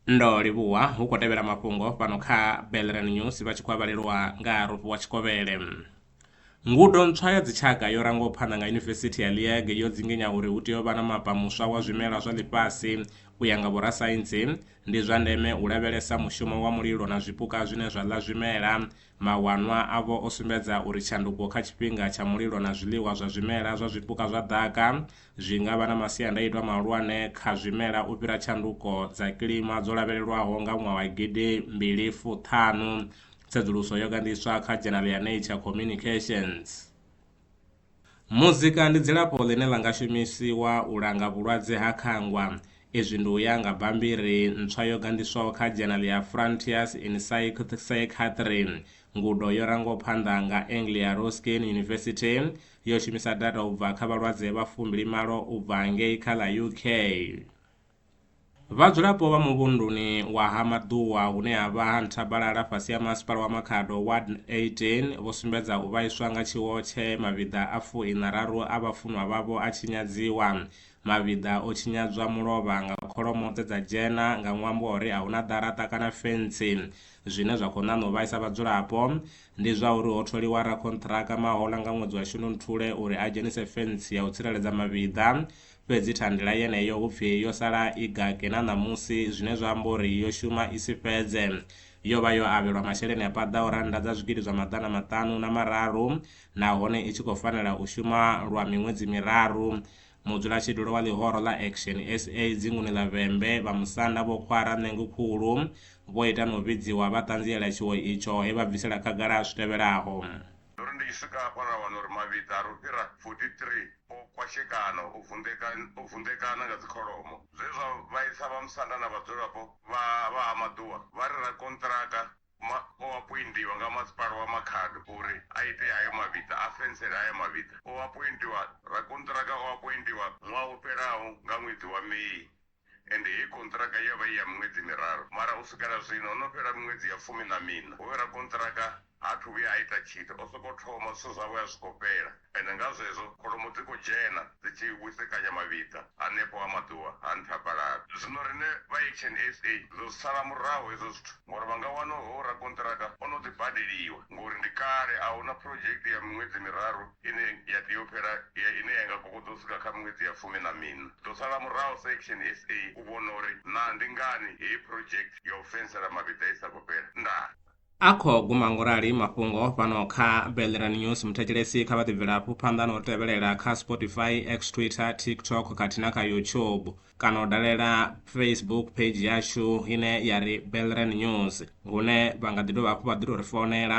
ndo livhuwa hu khou tevhela mafhungo fhano kha belran news vha tshi khou avhalelwa nga rofhi wa tshikovhele ngudo ntswa ya dzitshaka yo rangaho phanḓa nga yunivesithi ya liege yo dzinginya uri hu tea u vha na mapa muswa wa zwimela zwa ḽifhasi u ya nga vhorasaintsi ndi zwa ndeme u lavhelesa mushumo wa mulilo na zwipuka zwine zwa ḽa zwimela Mawanwa avho o sumbedza uri tshanduko kha tshifhinga tsha mulilo na zwiḽiwa zwa zwimela zwa zwipuka zwa ḓaka zwi nga vha na masiandaitwa mahulwane kha zwimela u fhira tshanduko dza kilima dzo lavhelelwaho nga ṅwaha wa gidi mbili fuṱhanu, tsedzuluso yo gandiswa kha dzhenaḽa ya Nature Communications. Muzika ndi dzilafho ḽine ḽa nga shumisiwa u langa vhulwadze ha khangwa. Izwi ndi u ya nga bammbiri ntswa yo ganḓiswaho kha dzhenali ya Frontiers in Psychiatry. Ngudo yo rangwaho phanḓa nga Anglia Ruskin University yo shumisa data u bva kha vhalwadze vha fumbilimalo u bva ngei kha ḽa UK. Vhadzulapo vha muvhunduni wa Ha Maḓuwa hune ha vha ha Nthabalala fhasi ha Masipala wa Makhado Ward 18 vho sumbedza u vhaiswa nga tshiwo tshe mavhiḓa a fu iṋa raru a vhafunwa vhavho a tshinyadziwa. Mavhiḓa o tshinyadzwa mulovha nga kholomo dze dza dzhena nga ṅwambo wa uri a hu na ḓaraṱa kana fentsi. Zwine zwa khou ṋaṋa u vhaisa vhadzulapo ndi zwa uri ho tholiwa rakhonṱhiraka Mahola nga ṅwedzi wa Shundunthule uri a dzhenise fentsi ya u tsireledza mavhiḓa fhedzi thandela yeneyo hu pfi yo sala i gake na ṋamusi, zwine zwa amba uri yo shuma i si fhedze. Yo vha yo avhelwa masheleni a paḓaho rannda dza zwigidi zwa maḓana maṱanu na mararu nahone i tshi khou fanela u shuma lwa miṅwedzi miraru. Mudzulatshidulo wa ḽihoro ḽa Action sa dzinguni ḽa Vhembe, vha Musanda Vho Khwara Ṋengukhulu, vho ita na u vhidziwa vha ṱanziela tshiwo itsho he vha bvisela khagala zwi tevhelaho. Ndo ri ndi tshi swika hafha ra wana uri mavhiḓa a re u fhira 43 o kwashekana, o vunḓekana, o vunḓekana nga dzikholomo. Zwe zwa vhaisa vhamusanda na vhadzulapo vha vha Ha Maḓuwa vha ri rakonṱiraka ma, o apoindiwa nga masipala wa Makhado uri a ite hayo mavhiḓa, a fensele hayo mavhiḓa. O apoindiwa, rakonṱiraka o apoindiwa ṅwaha wo fhelaho nga ṅwedzi wa May Ende heyi kontraka ya vha i ya miṅwedzi miraru, mara u swika na zwino ho no fhela miṅwedzi ya fumi na miṋa. Hoyu rakontraka ha athu vhuya a ita tshithu, o sokou thoma, zwithu zwawe a zwi khou fhela. Ende nga zwezwo kholomo dzi khou dzhena dzi tshi wisekanya mavhiḓa hanefho ha maḓuvha ha nthabalala. Zwino riṋe vha Action SA ri ḓo zwi sala murahu hezwo zwithu ngauri vha nga wana uri hoyu rakontraka o no ḓi badeliwa ngauri ndi kale a hu na phurodzhekte ya miṅwedzi miraru ine ya tea u fhela ya ine ya nga kokodzo u swika kha miṅwedzi ya fumi na miṋa. Ḓo sala muraho sa Action SA u vhona uri naa ndi ngani heyi project ya u fensela mavhiḓa i sa khou fhela. Ndaa. A khou guma ngo rali mafhungo fhano kha Belran News. Muthetshelesi kha vha ḓi bvela hafhu phanḓa na u tevhelela kha Spotify, X, Twitter, TikTok khathihi na kha YouTube kana u dalela Facebook page yashu ine ya ri Belran News hune vha nga ḓi dovha hafhu vha ḓi tou ri founela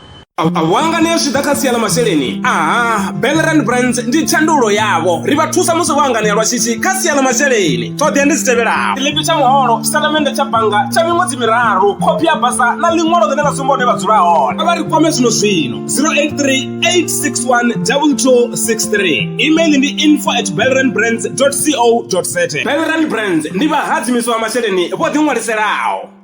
a hu hanganea zwi tshi ḓa kha sia ḽa masheleni aha belran brands ndi tshandulo yavho ri vha thusa musi vho hanganea lwa shishi kha sia ḽa masheleni ṱhoḓea ndi dzi tevhelaho tshiḽipi tsha muholo tshitatamennde tsha bannga tsha miṅwedzi miraru khophi ya basa na ḽiṅwalo ḽine ḽa sumba hune vha dzula hone a vha ri kwame zwino zwino 0838612263 email ndi info at belran brands co za belran brands ndi vhahadzimiswa vha masheleni vho ḓiṅwaliselaho